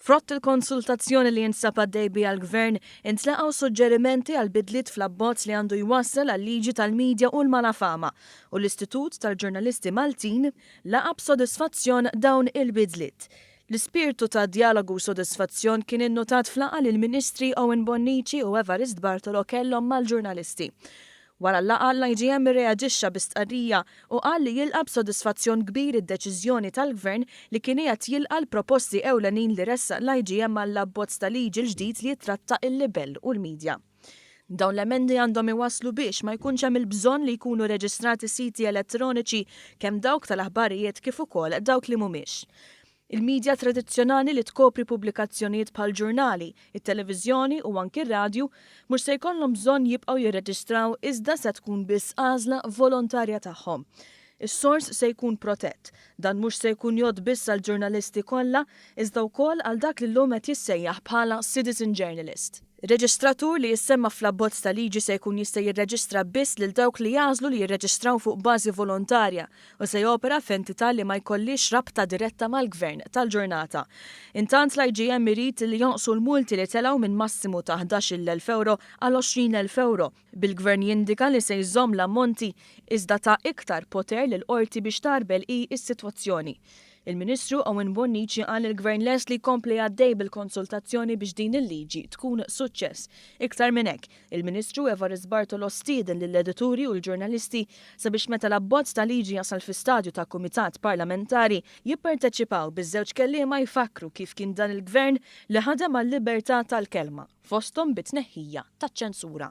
Frott il-konsultazzjoni li jinsab għaddej biha l-Gvern, intlaqgħu suġġerimenti għal bidliet fl-abbozz li għandu jwassal għal-Liġi tal-Media u l-Malafama, u l-Istitut tal-Ġurnalisti Maltin laqa' b'sodisfazzjon dawn il-bidliet. L-ispirtu ta' djalogu u sodisfazzjon kien innutat f'laqgħa li l-Ministri Owen Bonnici u Evarist Bartolo kellhom mal-ġurnalisti. Wara l-laqgħa, l-IGM irreaġixxa bi stqarrija u qal li jilqa' b'sodisfazzjon kbir id-deċiżjoni tal-Gvern li kien qiegħed jilqa' l-proposti ewlenin li ressaq l-IGM għall-abbozz ta' liġi l-ġdid li jittratta il-libell u l-midja. Dawn l-emendi għandhom iwasslu biex ma jkunx hemm il-bżonn li jkunu reġistrati siti elettroniċi kemm dawk tal-aħbarijiet kif ukoll dawk li mhumiex. Il-midja tradizzjonali li tkopri pubblikazzjonijiet bħall-ġurnali, it-televiżjoni u anki r-radju mhux se jkollhom bżonn jibqgħu jirreġistraw iżda se tkun biss għażla volontarja tagħhom. Is-sors se jkun protett. Dan mhux se jkun jgħodd biss għall-ġurnalisti kollha iżda wkoll għal dak li llum qed jissejjaħ bħala citizen journalist. Ir-reġistratur li jissemma fl-abbozz ta' liġi se jkun jista' jirreġistra biss lil dawk li jagħżlu li jirreġistraw fuq bażi volontarja u se jopera f'entità li ma jkollhiex rabta diretta mal-gvern tal-ġurnata. Intant l-IGM irid li jonqsu l-multi li telgħu minn massimu ta' ħdax-il l-elf ewro għal għoxrin elf ewro, bil-Gvern jindika li se jżomm l-ammonti iżda ta iktar poter lill-Qorti biex tgħarbel hi s-sitwazzjoni. Il-Ministru Owen Bonnici qal li l-Gvern lest li jkompli għaddej bil-konsultazzjoni biex din il-liġi tkun suċċess. Iktar minn hekk, il-Ministru Evarist Bartolo stieden lill-edituri u l-ġurnalisti sabiex meta l-abbozz ta' liġi jasal fi stadju ta' kumitat parlamentari, jipparteċipaw biż-żewġ kelliema jfakkru kif kien dan il-Gvern li ħadem għal-libertà tal-kelma. fosthom bit-tneħħija taċ-ċensura.